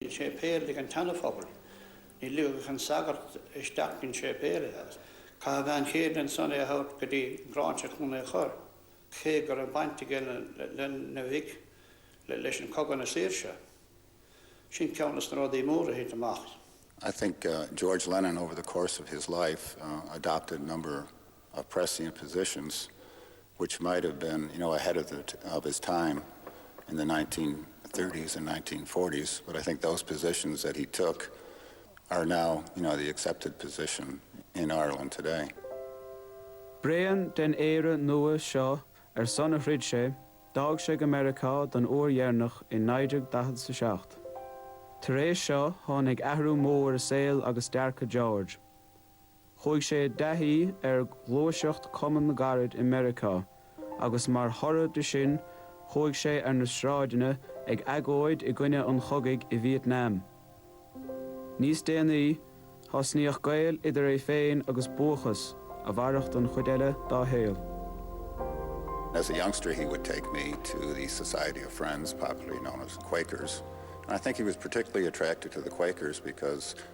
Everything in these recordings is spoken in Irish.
Níl séipéal i dtaobh an tSeanaphobail. Ní ligfeadh an sagart isteach don séipéal é agus chaith a bhean chéile ansan é a thabhairt go dtí an Ghráinseach chun é chur, cé go raibh baint aige lena mhuintir leis an Cogadh na Saoirse. Sin ceann de na rudaí móra a thit amach. I think George Lennon over the course of his life adopted a number of prescient positions which might have been, you know, ahead of his time in the nineteen thirties and nineteen forties but I think those positions that he took are now, you know, the accepted position in Ireland today. Bréan den Éire Nua seo ar son a throid sé, d'fhág sé go Meiriceá don uair dheireanach i 1947. Tar éis seo tháinig athrú mór i saol agus dearcadh George. Chuaigh sé i dtaithí ar ghluaiseacht Cumann na gCarad i Meiriceá agus mar thoradh de sin chuaigh sé ar na sráideanna ag agóid i gcoinne an chogaidh i Vietnam. Níos déanaí, thosnaíodh gaol idir é féin agus Búdachas a mhairfeadh don chuid eile dá shaol. As a youngster he would take me to the Society of Friends, popularly known as Quakers, and I think he was particularly attracted to the Quakers because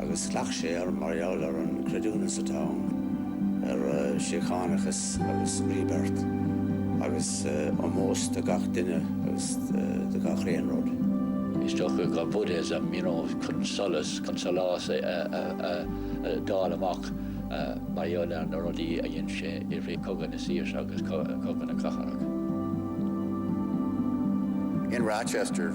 agus ghlac sé air mar gheall ar an gcreidiúint atá ann ar síochánachas agus rebirth agus ómós do gach duine agus do gach aon rud. Is dócha gur Buddhism, you know, chun solas, chun solás a fháil amach mar gheall ar na rudaí a dhein sé i rith Cogadh na Saoirse agus Cogadh na gCarad. In Rochester,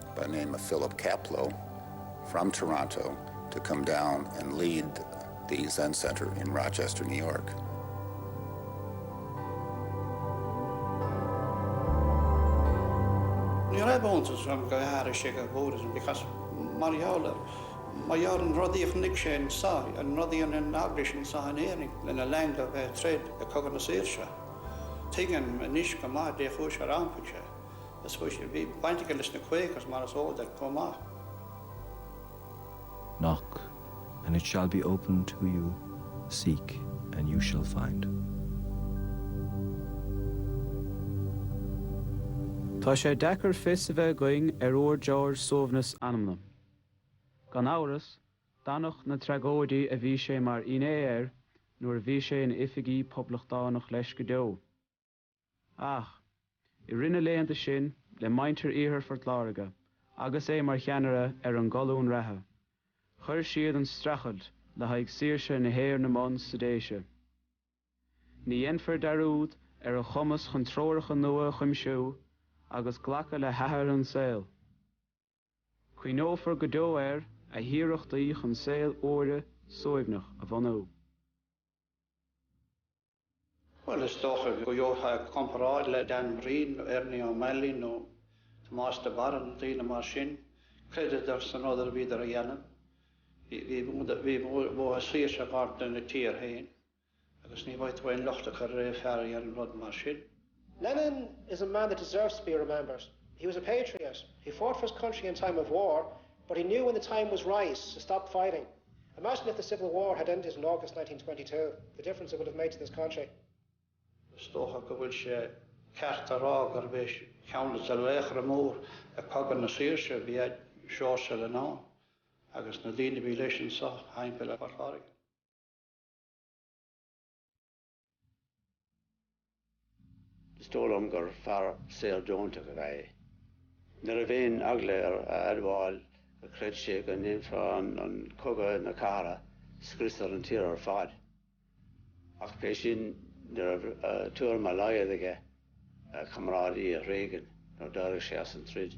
by the name of Philip Kapleau from Toronto to come down and lead the Zen Center in Rochester, New York. Ní raibh iontas orm gur iompaigh sé go Buddhism because mar gheall ar mar gheall an rudaí a chonaic sé anso ann, rudaí an in eaglais anso in Éirinn lena linn a bheith ag troid i cogadh na saoirse. Tuigim anois go maith dé chúis ar iompaigh sé. Is chuis, bhí baint aige leis na Quakers mar is eol duit chomh maith. Knock, and it shall be opened to you, seek, and you shall find. Tá sé deacair fios a bheith againn ar fhuair George suaimhneas anama. Gan amhras, d'fhanfadh na tragóidí a bhí sé mar fhinné orthu nuair a bhí sé ina oifigeach poblachtánach leis go deo. Ach, i rith na laethanta sin, le muintir Iarthar Phort Láirge, agus é mar cheannaire ar an gcolún reatha, chuir siad an streachailt le haghaidh saoirse na hÉireann i mbun sa Déise. Ní dhéanfar dearúd ar a chumas chun treoracha nua a chuimsiú agus glacadh le hathrú an tsaoil. Cuimhneofar go deo ar a hiarrachtaí chun saol úr suaimhneach a bhunú. Bhuel, is dócha go gheofá comparáid le Dan Breen nó Ernie O'Malley nó Tomás de Barra nó daoine mar sin, chreideadar san rud a bhíodar a dhéanamh. Bhí uathu saoirse i gceart ina dtír féin. Agus ní bhféadfá aon locht a chur ar fear a dhéanann rud mar sin. Lennon is a man that deserves to be remembered. He was a patriot, he fought for his country in time of war, but he knew when the time was right to stop fighting. Imagine if the civil war had ended in August 1922, the difference it would have made to this country. Is dócha go bhfuil sé ceart a rá gurbh é ceann de na laochra mór i gCogadh na Saoirse ab ea Seoirse Lennon agus na daoine a bhí leis anseo thimpeall ar Phort Láirge. Is dóigh liom gur fear soleonta ab ea é. Ní raibh aon eagla air a admháil gur chreid sé go ndéanfadh an cogadh na cathartha scrios ar an tír ar fad. Ach pé sin, ní raibh tuairim dá laghad aige a chomrádaí a thréigean nuair d'éirigh sé as an troid.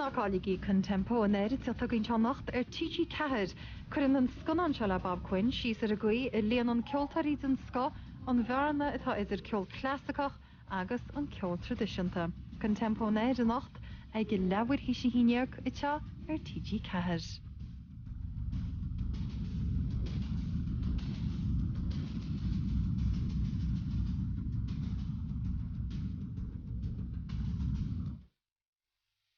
Ná cailligí ConTempo Anoir ag teacht chugainn anocht ar TG4! Cuireann an scannán seo le Bob Quinn síos ar an gcaoi a líonann ceoltóirí den scoth an bhearna atá idir ceol clasaiceach agus an ceol traidisiúnta. ConTempo Anoir anocht ag a leathuair théis a haon dhéag anseo ar TG4.